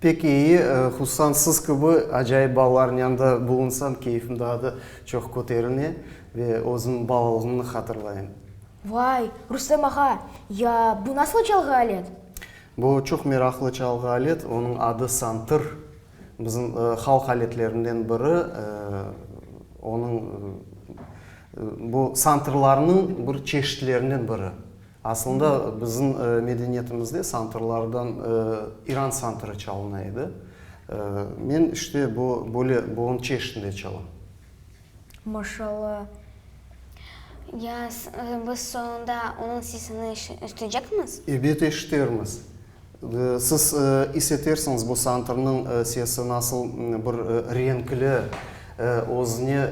Pek iyi, hususan siz kibi acayip balalarnıñ yanında bulunsam keyfim daa da çoq köterine ve özümniñ balalığımnı hatırlayım. Vay, Rustem ağa! Ya bu nasıl çalğı alet? Bu çoq meraqlı çalğı alet, onıñ adı santır. Bizim halq aletlerinden biri. Onıñ, bu santırlarnıñ bir çeşitlerinden biri. Asılında bizim medeniyetimizde santrlardan İran santrı çalına edi. Men işte bu böyle boğum çeşitinde çalam. Maşallah. Ya biz soñunda onıñ sesini eşitecekmiz? Ebet eşitermiz. Siz isetersiñiz, bu santrnıñ sesi nasıl bir renkli, özüne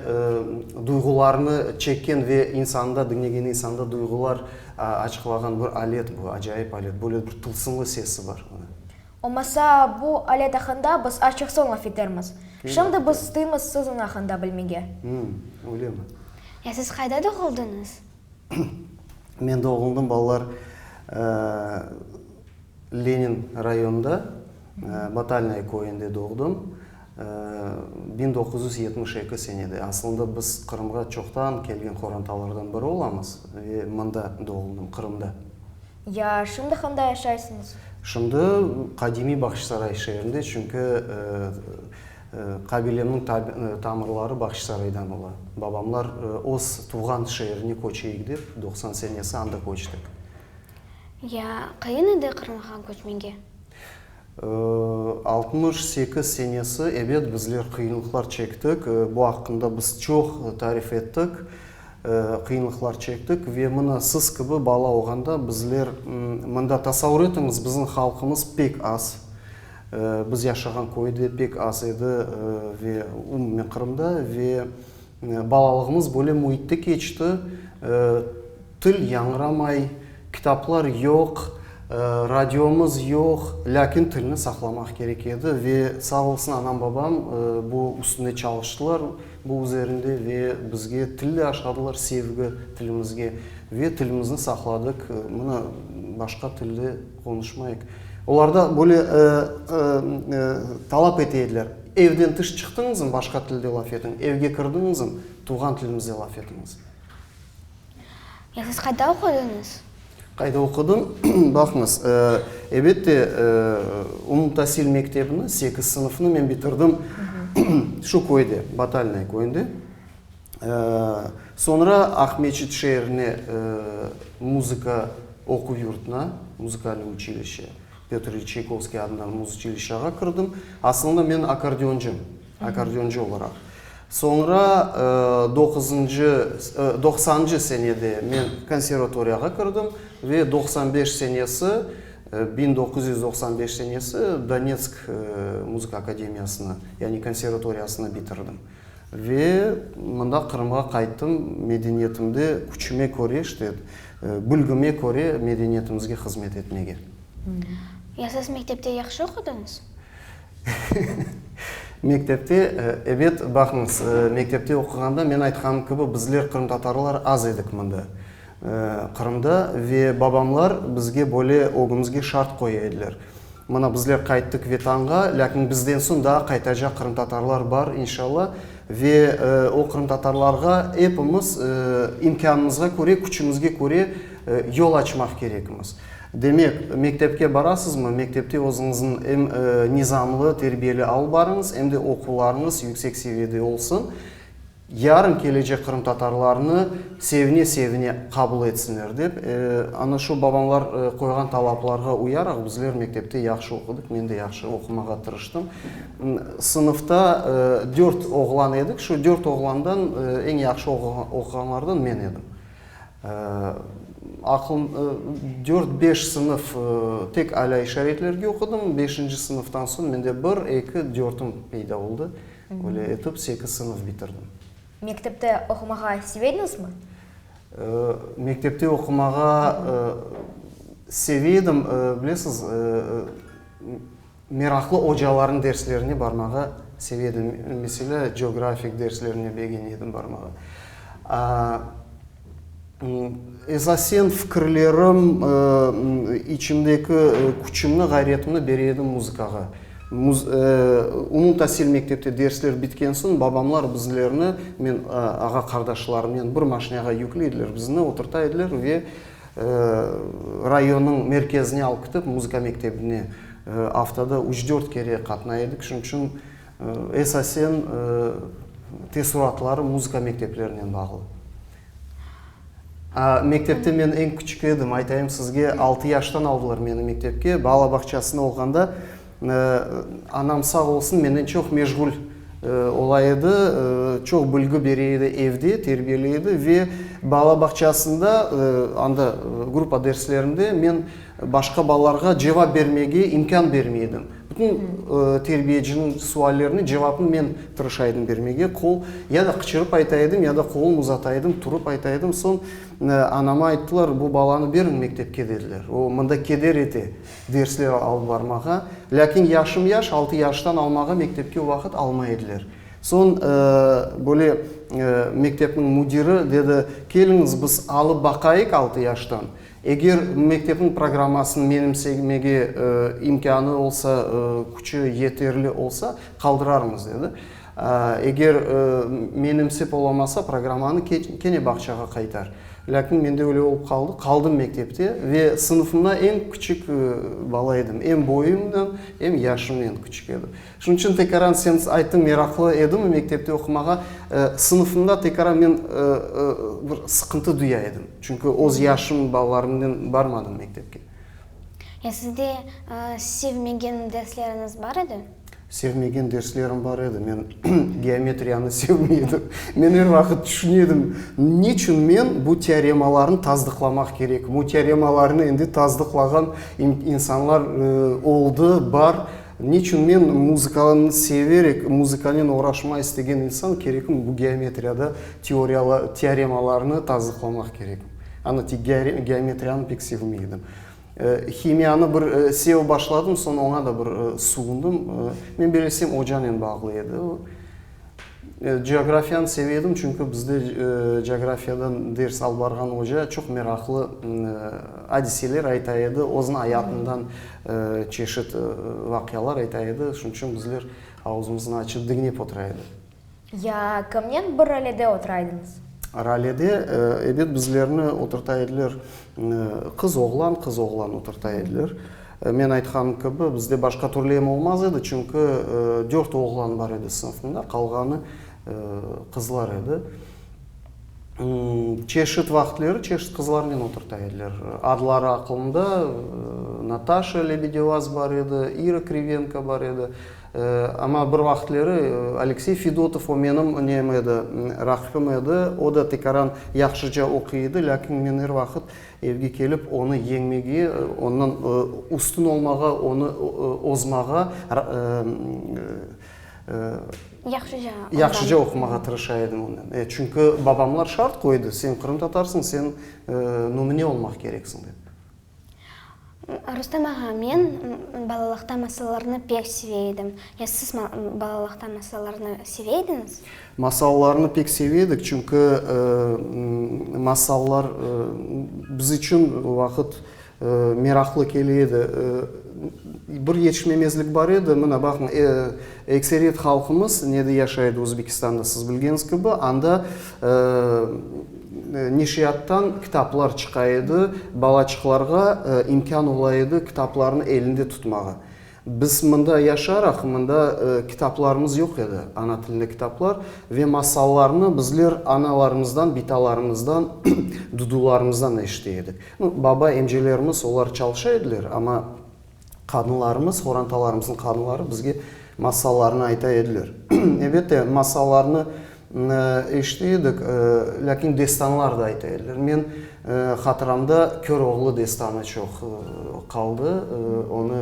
duyğularnı çekken ve insanda, diñlegen insanda duyğular açıqlağan bir alet bu, acayip alet. Böyle bir tılsımlı sesi bar bunıñ. Olmasa, bu alet aqqında biz açıq soñ laf etermiz. Şimdi biz isteymız siziñ aqqında bilmege. Öylemi? Ya siz qayda doğuldıñız? Men doğuldım, balalar, Lenin rayonında, Batalnaya köyünde doğdım. Biñ doquz yüz yetmiş eki senede. Asılında biz Qırımğa çoqtan kelgen qorantalardan biri olamız ve mında doğuldım, Qırımda. Ya şimdi handa yaşaysıñız? Şimdi qadimiy Bahçısaray şeerinde, çünki qabilemniñ tamırları Bahçısaraydan ola. Babamlar öz tuvğan şeerine köçeyik dep, doqsan senesi anda köçtik. Ya qayın edi Qırımğa köçmege? Altmış sekiz senesi, ebet, bizler qıyınlıqlar çektik. Bu aqqında biz çoq tarif ettik. Qıyınlıqlar çektik ve mına siz kibi bala olğanda bizler mında, tasavur etiñiz, bizim halqımız pek az, biz yaşağan köyde pek az edi ve umumen Qırımda ve balalığımız böyle müitte keçti, til yañramay, kitaplar yoq, radiomız yoq, lâkin tilni saqlamaq kerek edi ve sağ olsun anam-babam bu üstünde çalıştılar. Bu üzerinde ve bizge tilli aşladılar sevgi tilimizge ve tilimizni saqladıq, mına başqa tilde qonuşmayıq. Olarda böyle talap ete ediler, evden tış çıqtıñızm başqa tilde laf etiñ, evge kirdiñizm tuvğan tilimizde laf etiñiz. Siz qayda oqudıñız? Qayda oqudım? Baqıñız, ebette, umumtasil mektebini, sekiz sınıfnı men bitirdim şu köyde, Batalnaya köyünde. Soñra Aqmescit şeerine muzıka oquv yurtuna, muzikalnıy uçilişe, Pötr İlin Çaykovskiy adındalı muzıçilişağa kirdim. Aslında men akkordeoncım. Akkordeoncı olaraq. Soñra doquzıncı, doqsancı senede men konservatoriyağa kirdim ve doqsan beş senesi, biñ doquz yüz doqsan beş senesi Donetsk muzıka akademiyasını, yani konservatoriyasını bitirdim. Ve mında Qırımğa qayttım, medeniyetimde küçüme köre, işte, bilgime köre medeniyetimizge hızmet etmege. Ya siz mektepte yahşı oqudıñız? Mektepte, ebet, baqıñız, mektepte oquğanda men aytqanım kibi bizler qırımtatarlar az edik mında, Qırımda, ve babamlar bizge böyle ögümizge şart qoya ediler. Mına bizler qayttık Vetanğa, lâkin bizden soñ daa qaytacaq qırımtatarlar bar, inşalla, ve o qırımtatarlarğa epimiz imkânımızğa köre, küçümizge köre yol açmaq kerekmiz. Demek, mektepke barasızmı? Mektepte özüñizin em nizamlı, terbiyeli alıp barıñız, em de oquvlarıñız yüksek seviyede olsun. Yarın kelecek qırımtatarlarnı sevine-sevine qabul etsinler dep, ana şu babamlar qoyğan talaplarğa uyaraq bizler mektepte yahşı oqudıq, men de yahşı oqumağa tırıştım. Sınıfta dört oğlan edik, şu dört oğlandan eñ yahşı oquğanlardan men edim. Aql, dört, beş sınıf tek alâ işaretlerge oqudım. Beşinci sınıftan soñ mende bir, eki, dörtim peyda oldı. Böyle etip sekiz sınıf bitirdim. Mektepte oqumağa sevediñizmi? Mektepte oqumağa sevedim. Bilesiz, Meraqlı ocalarnıñ derslerine barmağa seve edim. Meselâ, geografik derslerine begene edim barmağa. Esasen fikirlerim, içimdeki küçümni, ğayretimni bere edim muzıkağa. Umumtasil mektepte dersler bitken soñ babamlar bizlerni, men ağa-qardaşlarımnen bir maşinağa yükley ediler, bizni oturta ediler ve Rayonnıñ merkezine alıp kitip muzıka mektebine aftada üç-dört kere qatnay edik. Şunıñ içün esasen teessuratlarım muzıka mekteplerinen bağlı. Mektepte men eñ küçük edim. Aytayım sizge, altı yaştan aldılar meni mektepke. Bala bağçasında olğanda Anam sağ olsun, menden çoq meşğul ola edi, çoq bilgi bere edi, evde terbiyeley edi ve bala bağçasında, anda gruppa derslerinde men başqa balalarğa cevap bermege imkân bermey edim. Bütün terbiyeciniñ suallerine cevapnı men tırışa edim bermege, qol, ya da qıçırıp ayta edim, ya da qolum uzata edim, turıp ayta edim. Soñ anama ayttılar, bu balanı beriñ mektepke, dediler, o mında keder ete. dersler alıp barmağa, lâkin yaşım-yaş, altı yaştan almağa mektepke vaqıt almay ediler. Soñ böyle mektepniñ müdiri dedi, keliñiz, biz alıp baqayıq altı yaştan, eger mektepniñ programmasını menimsemege imkânı olsa, küçü yeterli olsa, qaldırarmız, dedi. Eger menimsip olamasa, programmanı kene bağçağa qaytar. Lâkin mende öyle olıp qaldı, qaldım mektepte ve sınıfımda eñ küçük bala edim. Em boyumnen, em yaşımnen küçük edim. Şunıñ içün tekaran sen ayttıñ, meraqlı edimmi mektepte oqumağa, sınıfımda tekaran men bir sıqıntı duya edim. Çünki öz yaşım balalarımnen barmadım mektepke. Ya sizde sevmegen dersleriñiz bar edi? Sevmegen derslerim bar edi. Men geometriyanı sevmey edim. Men er vaqıt tüşüne edim, niçün men bu teoremalarnı tasdıqlamaq kerekim? O teoremalarnı endi tasdıqlağan insanlar oldı, bar. Niçün men muzıkanı severek, muzıkanen oğraşma istegen insan kerekim, bu geometriyada teoremalarnı tasdıqlamaq kerekim? Ana, geometriyanı pek sevmey edim. Himiyanı bir sev başladım, soñ oña da bir suğundım. Men belirsem ocanen bağlı edi o. Coğrafiyanı seve edim, çünki bizde coğrafiyadan ders alıp barğan oca çoq meraqlı adiseler ayta edi, özüniñ ayatından çeşit vaqialar ayta edi. Şunıñ içün bizler ağuzımıznı açıp diñlep otura edik. Ya kimnen bir ralede oturaydınız? Ralede, ebet, bizlerni oturta ediler. Qız, oğlan, qız, oğlan oturta ediler. Men aytqanım kibi, bizde başqa türlü em olmaz edi, çünki dört oğlan bar edi sınıfımda, qalğanı qızlar edi. Çeşit vaqıtları çeşit qızlarnen oturta ediler. Adları aqılımda, Nataşa Lebedevaz bar edi, İra Krivenko bar edi. Amma bir vaqıtleri Aleksey Fedotov o menim inim edi, raqibim edi. O da tekaran yahşıca oquy edi, lâkin men er vaqıt evge kelip onı yeñmege, ondan üstün olmağa, onı ozmağa, yahşıca oqumağa tırışa edim ondan. E, çünki babamlar şart qoydı, sen qırımtatarsıñ, sen numune olmaq kereksiñ dep. Rustem ağa, men balalıqta masallarnı pek seve edim. Ya siz balalıqta masallarnı seve ediñiz? Masallarnı pek seve edik, çünki masallar biz içün vaqıt meraqlı kele edi. Bir yetişmemezlik bar edi, mına baqıñ, ekseriyet halqımız nede yaşay edi Özbekistanda, siz bilgeñiz kibi, anda Neşriyattan kitaplar çıqa edi, balaçıqlarğa imkân ola edi kitaplarnı elinde tutmağa. Biz mında yaşaraq, mında kitaplarımız yoq edi, ana tilinde kitaplar, ve masallarnı bizler analarımızdan, bitalarımızdan, dudularımızdan eşite edik. Baba, emcelerimiz olar çalışa ediler, amma. Qadınlarımız, qorantalarımıznıñ qadınları bizge masallarnı ayta ediler. Ebette, masallarnı eşite edik, lâkin destanlar da ayta ediler. Men hatıramda Köroğlu destanı çoq qaldı. Onı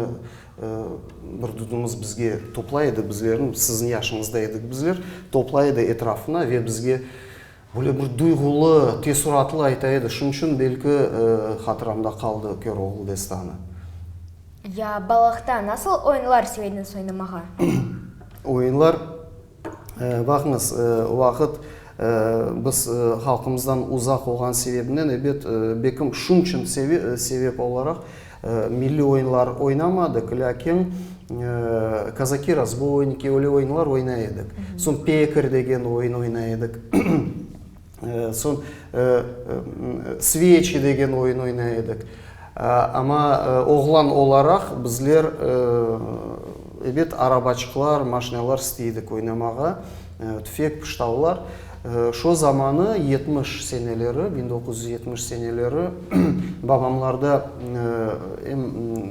bir dudumız bizge toplay edi, bizlerni, siziñ yaşıñızda edik bizler, toplay edi etrafına ve bizge Böyle bir duyğulı, teessuratlı ayta edi, şunıñ içün belki hatıramda qaldı Köroğlu destanı. Ya balaqta nasıl oyunlar sevediñiz oynamağa? Oyunlar, baqıñız, o vaqıt biz halqımızdan uzaq olğan sebebimnen, ebet, bekim şunıñ içün sebep olaraq Milliy oyunlar oynamadıq, lâkin Kazaki razboyniki, öyle oyunlar oynay edik. Soñ Pekar degen oyun oynay edik. Soñ Sveçi degen oyun oynay edik. Amma oğlan olaraq bizler, ebet, arabaçıqlar, maşinalar istey edik oynamağa. Tüfek pıştavlar şo zamanı, yetmiş seneleri, biñ doquz yüz yetmiş seneleri, babamlarda em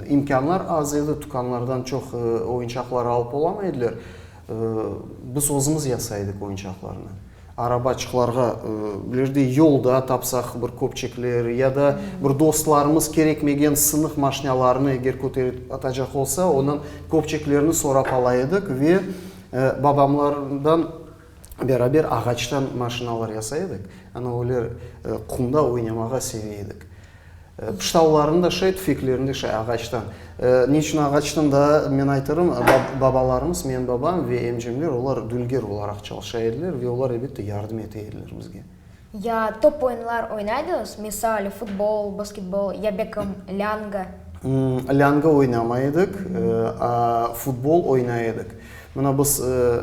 imkânlar az edi, tükânlardan çoq oyunçaqlar alıp olamay ediler. Biz özümiz yasay edik oyunçaqlarnı. Arabaçıqlarğa bilirdik, yolda tapsaq bir köpçekler ya da bir dostlarımız kerekmegen sınıq maşnâlarnı eger köterip atacaq olsa, ondan köpçeklerni sorap ala edik ve, Babamlardan beraber ağaçtan maşinalar yasay edik. Ana öyle qumda oynamağa sevey edik. Pıştavların da şay, tüfeklerin de şay ağaçtan. Ne içün ağaçtan da men aytarım, babalarımız, menim babam ve emcemler olar dülger olaraq çalışa ediler ve olar elbette yardım ete ediler bizge. Ya top oyunlar oynaydınız, misal, futbol, basketbol, ya bekim, lâñga? Lâñga oynamay edik, a futbol oynay edik. Mına biz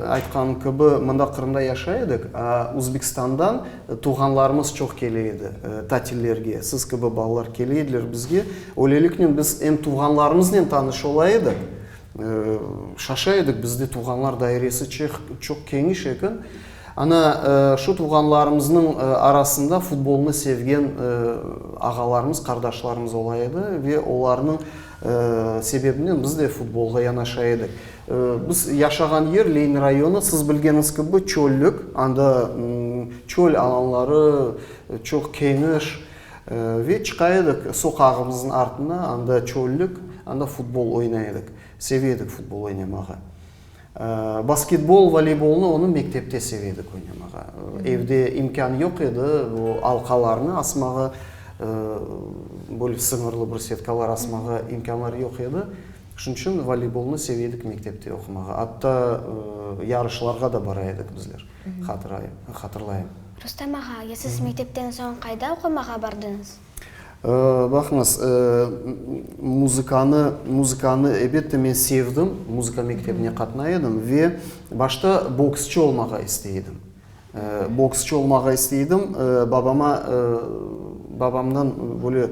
aytqan kibi, mında Qırımda yaşay edik, a Uzbekistandan tuvğanlarımız çoq kele edi tatillerge. Siz kibi balalar kele ediler bizge. Öyleliknen biz em tuvğanlarımıznen tanış ola edik, Şaşa edik, bizde tuvğanlar dairesi çoq keñiş eken. Ana, şu tuvğanlarımıznıñ arasında futbolnı sevgen ağalarımız, qardaşlarımız ola edi ve olarnıñ sebebinden biz de futbolğa yanaşa edik. Biz yaşağan yer, Lenin rayonı, siz bilgeniz kibi, çöllük, anda çöl alanları çoq keñiş. Ve çıqa edik soqağımıznıñ artına, anda çöllük, anda futbol oynay edik. Seve edik futbol oynamağa. Basketbol, voleybolnı onı mektepte seve edik oynamağa. Evde imkân yoq edi o alqalarnı asmağa, böyle sıñırlı bir setkalar asmağa imkânlar yoq edi. Şunıñ içün voleybolnı seve edik mektepte oqumağa. Atta yarışlarğa da bara edik bizler. hatırlayım. Rustem ağa, ya siz mektepten soñ qayda oqumağa bardıñız? Baqıñız, muzıkanı, muzıkanı elbette men sevdim, muzıka mektebine qatnay edim ve başta boksçı olmağa istey edim. Boksçı olmağa istey edim, babama, babamdan böyle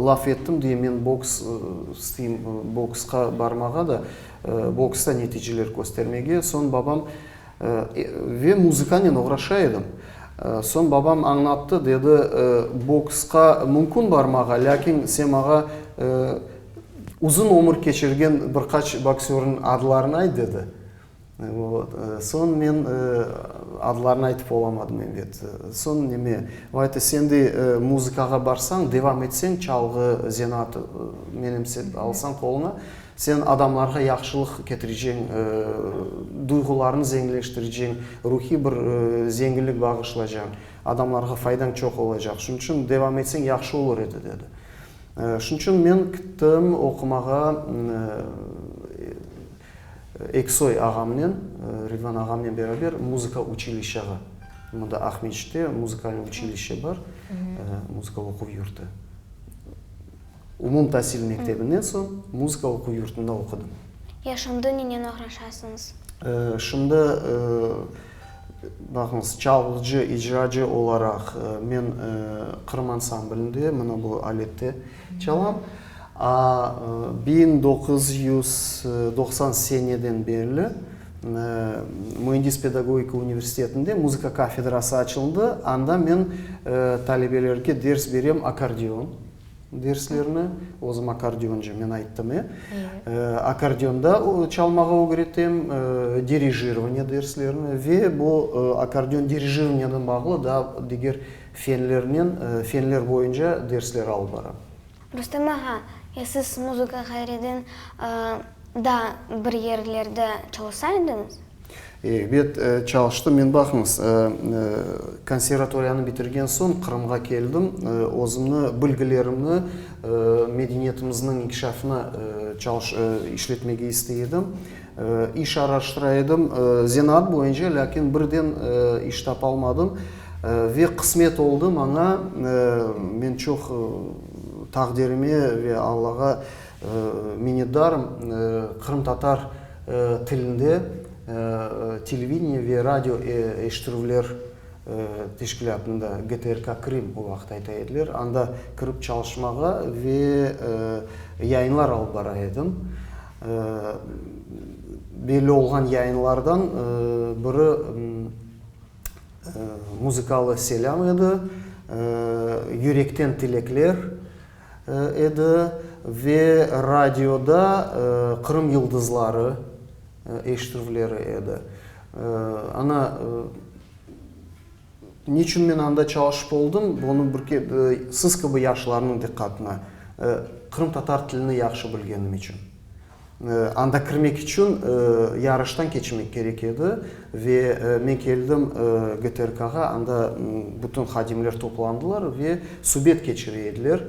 laf ettim diye men boks isteyim, boksqa barmağa da, boksta neticeler köstermege. Soñ babam. Ve muzıkanen oğraşa edim. Soñ babam añlattı, dedi, boksqa mümkün barmağa, lâkin sen maña uzun ömür keçirgen bir qaç boksörniñ adlarını ayt, dedi. Vot. Soñ men adlarını aytıp olamadım, eybet. Soñ neme, o ayttı, sen de muzıkağa barsañ, devam etseñ, çalğı zenaatı menimsep alsañ qoluna, Sen adamlarğa yahşılıq ketireceñ, duyğularını zengileştireceñ, ruhiy bir zenginlik bağışlacañ, adamlarğa faydañ çoq olacaq. Şunıñ içün devam etseñ yahşı olur edi, dedi. Şunıñ içün men kittim oqumağa Eksoy ağamnen, Ridvan ağamnen beraber muzıka uçilişşağa. Mında Aqmescitte muzikalnıy uçilişşe bar, muzıka oquv yurtu. Umumtasil mektebinden soñ muzıka oquv yurtunda oqudım. Ya şimdi nenen oğraşasıñız? Şimdi, baqıñız, çalğıcı, icracı olaraq men Qırım ansamblinde, mına bu alette çalam. A biñ doquz yüz doqsan seneden berli Müendis pedagogika universitetinde muzıka kafedrası açıldı, anda men talebelerge ders berem, akkordeon Derslerni özüm akkordeoncı, men ayttım, e, akkordeonda çalmağa ögretem, dirijirvaniya derslerini ve bu akkordeon dirijirvaniyanen bağlı daa diger fenlernen, fenler boyunca dersler alıp baram. Rustem ağa, ya siz muzıka ğayriden daa bir yerlerde çalsa ediñiz? Ebet, çalıştım. Men, baqıñız, konservatoriyanı bitirgen soñ Qırımğa keldim. Özümni, bilgilerimni medeniyetimizniñ inkişafına işletmege istey edim. İş araştıra edim, zenaat boyunca, lâkin birden iş tapa almadım. Ve qısmet oldı maña, men çoq taqdirime ve Allağa Minnetdarım, qırımtatar tilinde televideniye ve radio eşittirüvler teşkilâtında, GTRK Krım, o vaqıt ayta ediler, anda kirip çalışmağa ve yayınlar alıp bara edim. Belli olğan yayınlardan biri muzıkalı selâm edi, Yürekten tilekler. edi ve radioda Qırım yıldızları eşitüvleri edi. Ana, niçün men anda çalışıp oldım, bunı bir kep siz kibi yaşlarnıñ diqqatına, qırımtatar tilini yahşı bilgenim içün. Anda kirmek içün yarıştan keçmek kerek edi. Ve men keldim GTRKğa, anda bütün hadimler toplandılar ve subet keçire ediler.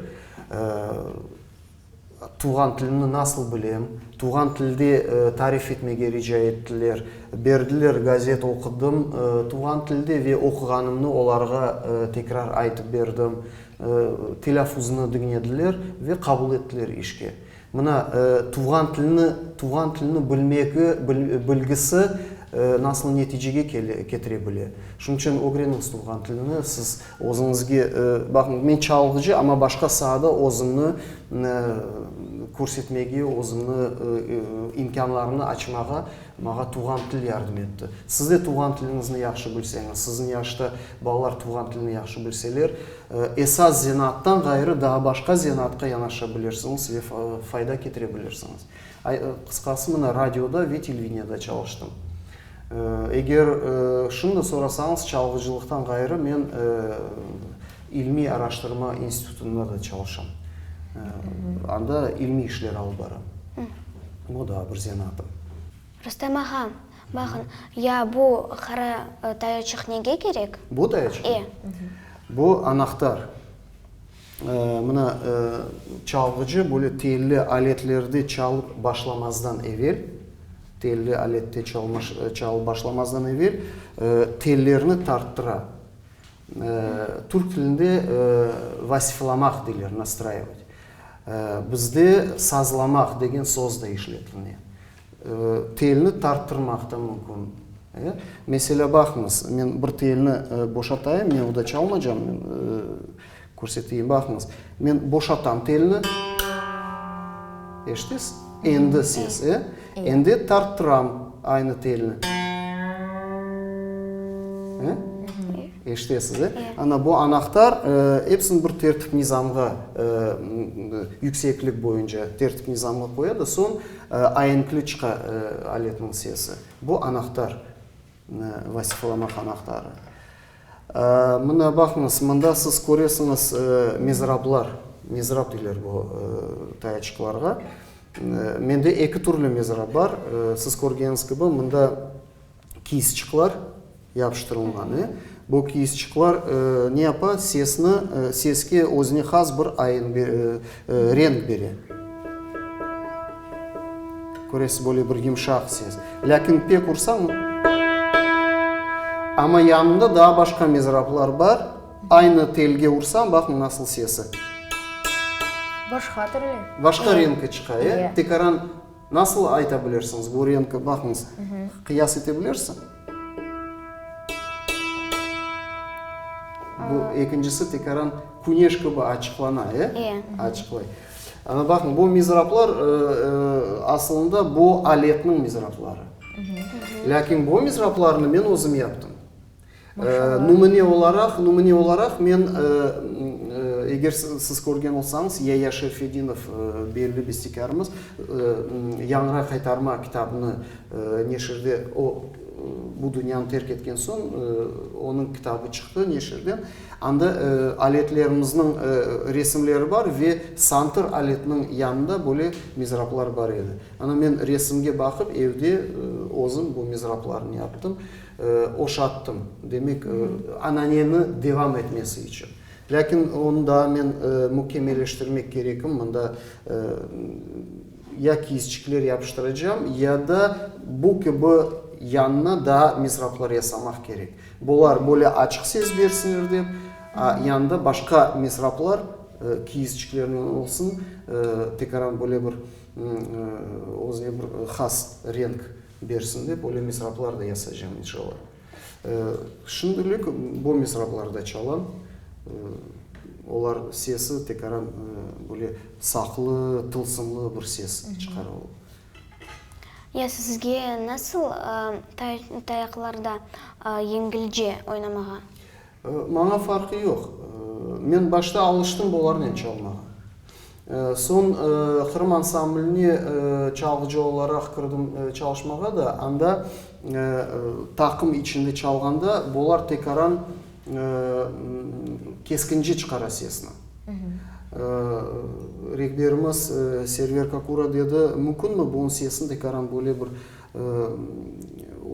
Tuvğan tilini nasıl bilem? Tuvğan tilde tarif etmege rica ettiler. Berdiler, gazet oqudım tuvğan tilde ve oquğanımnı olarğa tekrar aytıp berdim. Telâfuznı diñlediler ve qabul ettiler işke. Mına, tuvğan tilini, tuvğan tilini bilmegi, bilgisi nasıl neticege ketire bile. Şunıñ içün ögreniñiz tuvğan tilini. Siz özüñizge, baqıñ, men çalğıcı, amma başqa saada özümni körsetmege, özümni imkânlarını açmağa mağa tuvğan til yardım etti. Siz de tuvğan tiliñizni yahşı bilseñiz, siziñ yaşta balalar tuvğan tilini yahşı bilseler, Esas zenaattan ğayrı daa başqa zenaatqa yanaşa bilirsiñiz ve fayda ketire bilirsiñiz. Qısqası, mına, radioda ve televiniada çalıştım. Eger şimdi sorasañız, çalğıcılıqtan ğayrı men ilmiy araştırma institutında da çalışam. Anda ilmiy işler alıp baram. Bu daa bir zenaatım. Rustem ağa! Baqıñ, ya bu qara tayoçıq nege kerek? Bu tayoçıq? E. Bu anahtar. Mına çalğıcı böyle telli aletlerde çalıp başlamazdan evel, telli alette çalıp başlamazdan evel tellerni tarttıra. Türk tilinde vasiflamaq deyler, nastraivot. Bizde sazlamaq degen soz da işletilmey. Telni tarttırmaq da mümkün. Meselâ, baqıñız, men bir telni boşatayım, men o da çalmaycam, körseteyim, baqıñız. Men boşatam telni. Eşitesiz? Endi ses. Endi tarttıram aynı telni. Eşitesiz? Ana, bu anahtar episini bir tertip-nizamğa, yükseklik boyunca tertip-nizamğa qoya da soñ, Aenkli çıqa aletniñ sesi. Bu anahtar, vasifalamaq anahtarı. Mına baqıñız, mında siz köresiñiz mizrablar, mizrab deyler bu tayaçıqlarğa. Mende eki türlü mizrab bar. Siz körgeniz kibi, mında. kiysçıqlar yapıştırılğanı. Bu kiysçıqlar ne yapa, sesni, seske özüne has bir ayıñ, renk bere. Köresiz, böyle bir yımşaq ses. Lâkin pek ursañ, amma yanında daa başqa mezrablar bar. Aynı telge ursañ, baqıñ nasıl sesi. Başqa türlü. Başqa renki çıqa, e? Tekaran. Nasıl ayta bilirsiñiz? Bu reñke baqıñız. Qıyas ete bilirsiñ? Bu ekincisi tekaran küneş kibi açıqlana, e? E. Açıqlay. Ana baqıñ, bu mizraplar asılında bu aletniñ mizrapları. Lâkin bu mizraplarnı men özüm yaptım. Numune olaraq, numune olaraq men, eger siz körgen olsañız, Yaya Şerfedinov, belli bestekârımız, Yañra qaytarma kitabını neşirde, o, bu dünyanı terk etken soñ, onıñ kitabı çıqtı neşirden. Anda aletlerimizniñ resimleri bar ve santır aletiniñ yanında böyle mizraplar bar edi. Ana men resimge baqıp, evde özüm bu mizraplarnı yaptım. Oşattım, demek, ananeni devam etmesi içün. Lâkin onı daa men mükemmeleştirmek kerekim, mında ya kiyizçikler yapıştıracağım, ya da bu kibi yanına daa misraplar yasamaq kerek. Bular böyle açıq ses bersinler dep, yanında başqa misraplar kiyizçiklernen olsun, tekaran böyle bir özüne bir has renk. bersin dep, öyle misraplar da yasaycam inşalla. Şimdilik bu misraplar da çalam. Olar sesi tekaran böyle saqlı, tılsımlı bir ses çıqara o. Ya sizge nasıl tayaqlarda yengilce oynamağa? Maña farqı yoq. Men başta alıştım bularnen çalmağa. Soñ Qırım ansambline çalğıcı olaraq kirdim çalışmağa da, anda taqım içinde çalğanda bular tekaran keskinci çıqara sesni. Rehberimiz Server Kakura dedi, mümkünmi, bunıñ sesini tekaran böyle bir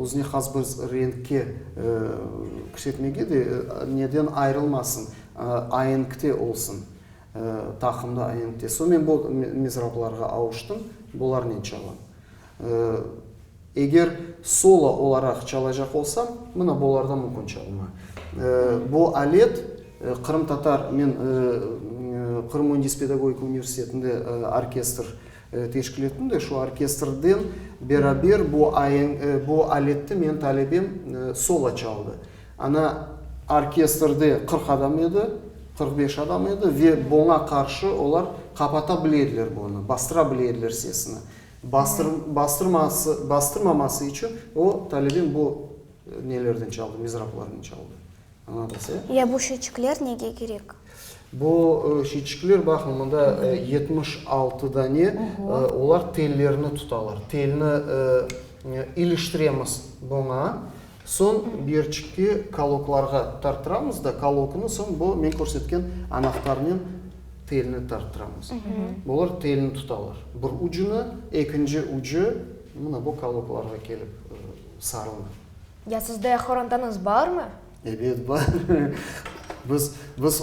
Özüne has bir renkte küşetmege de neden ayırılmasın, aenkte olsun, taqımda aenkte. Soñ men bu mizrablarğa avuştım, bularnen çalam. Eger solo olaraq çalacaq olsam, mına bularda mümkün çalma. Bu alet qırımtatar, men Qırım müendis-pedagogik universitetinde orkestr Teşkil ettim de şu orkestrden beraber bu aenk, bu aletti men talebem solo çaldı. Ana orkestrde qırq adam edi, qırq beş adam edi ve buña qarşı olar qapata bile ediler bunı, bastıra bile ediler sesini. Bastır, bastırması, bastırmaması içün o talebem bu nelerden çaldı, mizraplardan çaldı. Ya bu şeçikler nege kerek? Bu şeçikler, baqıñ, mında yetmiş altı dane, olar tellerni tutalar. Telni iliştiremiz buña, soñ birçikte kaloklarğa tarttıramız da, kaloknı soñ bu men körsetken anahtarnen telni tarttıramız. Bular telni tutalar. Bir ucunı, ekinci ucu mına bu kaloklarğa kelip sarılır. Ya sizde qorantanıız barmı? Ebet, bar. Biz, biz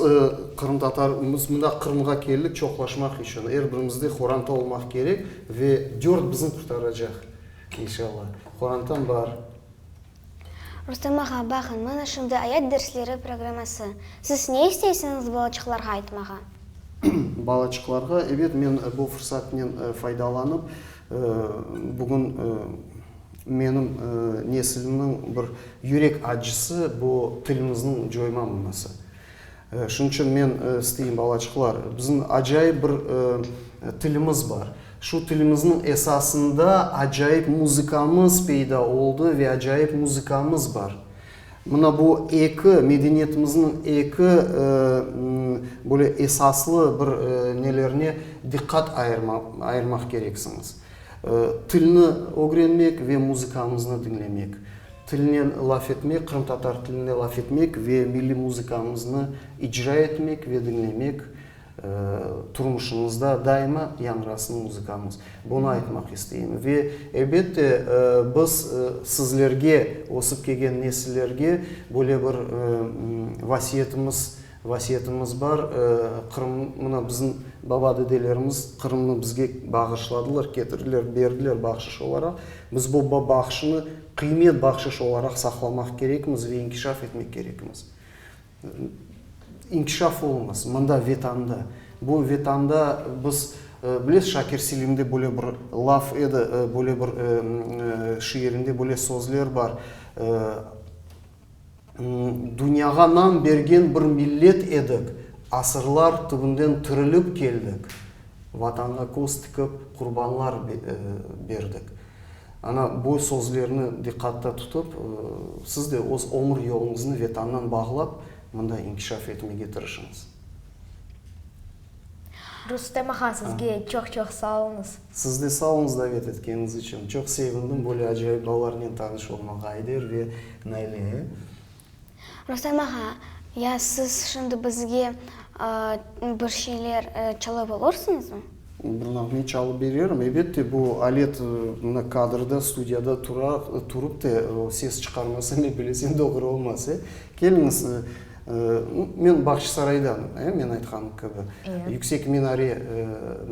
qırımtatar, biz mında Qırımğa keldik çoqlaşmaq içün. Er birimizde qoranta olmaq kerek ve dört bizni qurtaracaq, inşalla. Qorantam bar. Rustem ağa, baqıñ, mana şimdi ayat dersleri programması. Siz ne isteysiñiz balaçıqlarğa aytmağa? Balaçıqlarğa, ebet, men bu fırsatnen faydalanıp, bugün, Menim neslimniñ bir yürek acısı, bu tilimizniñ coymamması. Şunıñ içün men isteyim, balaçıqlar, bizim acayip bir tilimiz bar. Şu tilimizniñ esasında acayip muzıkamız peyda oldı ve acayip muzıkamız bar. Mına bu eki, medeniyetimizniñ eki böyle esaslı bir nelerine diqqat ayırmaq kereksiñiz. Tilni ögrenmek ve muzıkamıznı diñlemek, tilnen laf etmek, qırımtatar tilinde laf etmek ve milliy muzıkamıznı icra etmek ve diñlemek turmuşımızda daima yañrasın muzıkamız. Bunı aytmaq isteyim. Ve, elbette, biz sizlerge, ösip kelgen nesillerge böyle bir vasiyetimiz, Vasiyetimiz bar, Qırım, mına bizim baba-dedelerimiz Qırımnı bizge bağışladılar, ketirdiler, berdiler bahşış olaraq. Biz bu bahşını qıymet bahşış olaraq saqlamaq kerekmiz ve inkişaf etmek kerekmiz. İnkişaf oluñız mında, Vetanda. Bu Vetanda biz, bilesiz, Şakir Selimde böyle bir laf edi, böyle bir şiirinde böyle sözler bar. Dünyağa nam bergen bir millet edik, asırlar tübünden tirilip keldik, Vatanğa köz tikip, qurbanlar berdik. Ana, bu sözlerni diqqatta tutıp, siz de öz ömür yoluñıznı Vetannan bağlap, mında inkişaf etmege tırışıñız. Rustem ağa, sizge çoq-çoq sağ oluñız. Siz de sağ oluñız davet etkeñiz içün. Çoq sevindim böyle acayip balalarnen tanış olmağa, Ayder ve Naile. Rustem ağa, ya siz şimdi bizge bir şeyler çalıp olursuñızmı? Bir nağme çalıp bererim, ebette. Bu alet mına kadrda, studiyada tura, turıp te ses çıqarmasa, ne bilesiñ, doğru olmaz, e? Keliñiz, Men Bağçasaraydan, men aytqan kibi, Yüksek minare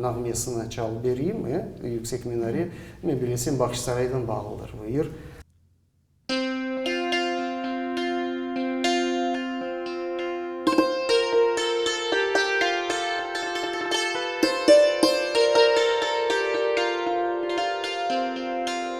nağmesini çalıp bereyim. Yüksek minare, men bilesem, Bağçasaraydan bağlıdır bu yer.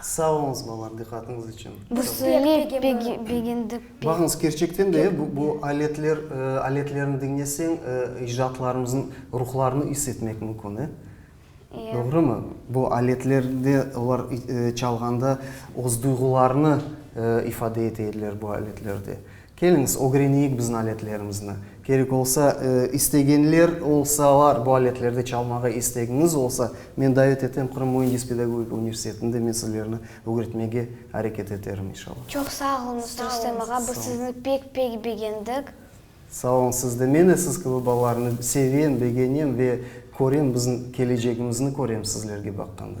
Sağ oluñız, balalar, diqqatıñız içün. Biz pek begendik. Baqıñız, kerçekten de, bu aletler, aletlerni diñleseñ, icdaatlarımızın ruhlarını is etmek mümkün, e? Doğrumı? Bu aletlerde, olar çalğanda öz duyğularını ifade ete ediler bu aletlerde. Keliñiz, ögreneyik biziñ aletlerimizni. Kerek olsa, istegenler olsalar, bu aletlerde çalmağa istegiñiz olsa, men davet etem Qırım müendis pedagogika universitetinde men sizlerni ögretmege areket eterim, inşallah. Çoq sağ oluñız, Rustem ağa, biz sizni pek-pek begendik. Sağ oluñ siz de. Men de siz kibi balalarnı sevem, begenem ve körem, biziñ kelecegimizni körem sizlerge baqqanda.